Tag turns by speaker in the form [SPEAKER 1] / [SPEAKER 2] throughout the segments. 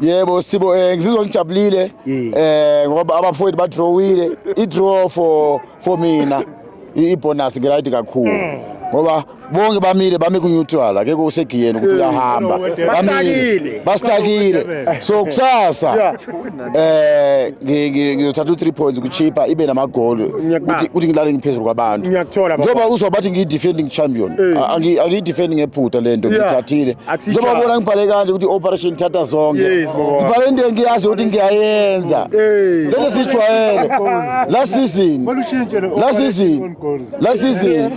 [SPEAKER 1] Yebo
[SPEAKER 2] Sibo eh
[SPEAKER 1] ngizizwa ngijabulile eh ngoba abafowethu ba drawile i draw for for mina i bonus ngirayidi kakhulu mm. ngoba bonke bamile bami ku neutral akekho usegiyeni ukuthi mm. uyahamba bamile bastakile so kusasa eh ngizothatha u 3 points kuchipa ibe namagoli ukuthi ukuthi ngilale ngiphezulu kwabantu njengoba uzwa
[SPEAKER 2] bathi ngiyi defending
[SPEAKER 1] champion angiyi defending ephutha lento ngithathile njengoba bona ngibhale kanje ukuthi operation thatha zonke ngibhale into engiyazi ukuthi ngiyayenza lento sijwayele la season la season la season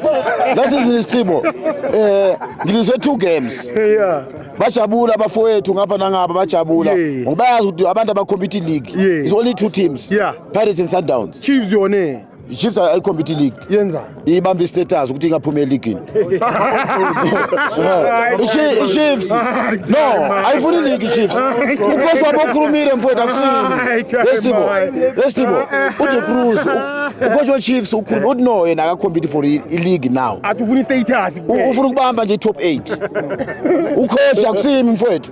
[SPEAKER 1] la season isithibo eh ngilise two games bajabula abafowethu ngapha nangapha bajabula ngoba bayazi ukuthi abantu abakhompete league is only two teams pirates and sundowns chiefs yone
[SPEAKER 2] iChiefs ayikhompete
[SPEAKER 1] league yenza ibamba
[SPEAKER 2] istatus
[SPEAKER 1] ukuthi ingaphumi eligini iChiefs no ayifuni league iChiefs uKhosi wabo ukhulumile mfowethu akusini lesithibo lesithibo uthi Cruz ucoach weChiefs ukhuluma uthi no yena akakhompete for ileague now athi ufuna istatus
[SPEAKER 2] ufuna ukubamba nje
[SPEAKER 1] top 8 ucoach akusimi mfowethu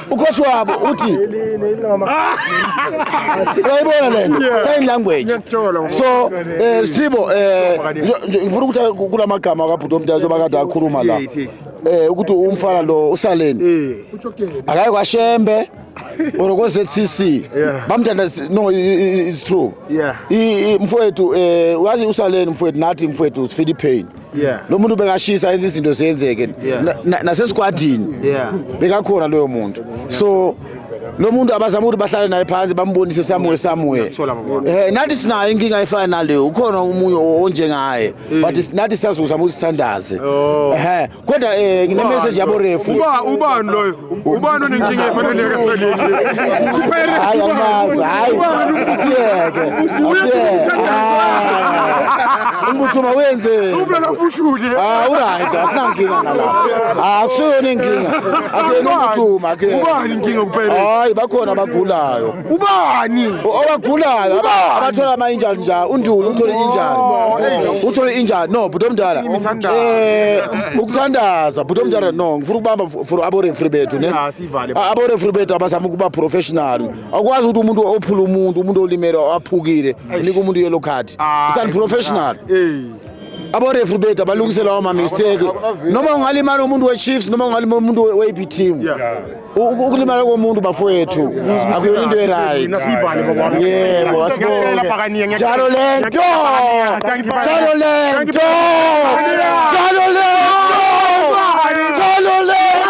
[SPEAKER 1] ukhosi wabo uthi uyayibona lento sign language so eh Sithibo eh ngifuna ukuthi kula magama akabhuti omthetho bakade akhuluma la eh ukuthi umfana lo usaleni eh. akaye kwashembe or ko ZCC bamthanda no it's true yeah mfowethu eh uyazi usaleni mfowethu nathi mfowethu Philippine yeah. lo muntu bengashisa enza izinto zenzeke yeah. nasesigwadini na, na yeah. bekakhona loyo muntu so lo muntu abazama ukuthi bahlale naye phansi bambonise somewhere somewhere eh nathi sinayo inkinga efana naleyo ukhona umunye onjengaye mm. but nathi siyazuzama ukuthi sithandaze oh. eh kodwa eh ngine message yabo refu uba ubani loyo
[SPEAKER 2] ubani onenkinga efaneleka hayi
[SPEAKER 1] amazi hayi asiyeke asiyeke umbuthuma wenzeni uphela ubushuli
[SPEAKER 2] ah uright
[SPEAKER 1] asinankinga nala ah akusiyona inkinga akuyena umbuthuma akuyena ubani inkinga kuphela
[SPEAKER 2] hayi bakhona
[SPEAKER 1] abagulayo ubani
[SPEAKER 2] owagulayo
[SPEAKER 1] abathola ama injury nja uNduli uthole injury uthole injury no bhuti omdala eh ukuthandaza bhuti omdala no ngifuna ukubamba for abo referee bethu ne abo referee bethu abazama ukuba professional akwazi ukuthi umuntu ophula umuntu umuntu olimele aphukile unika umuntu yellow card it's unprofessional eh aborefri bethu abalungisela wama mistake noma ungalimala umuntu we-chiefs noma ungalimala umuntu we-ap team ukulimala komuntu bafowethu akuyona into eright yebo asibonge njalo lento njalo lento njalo lento njalo lento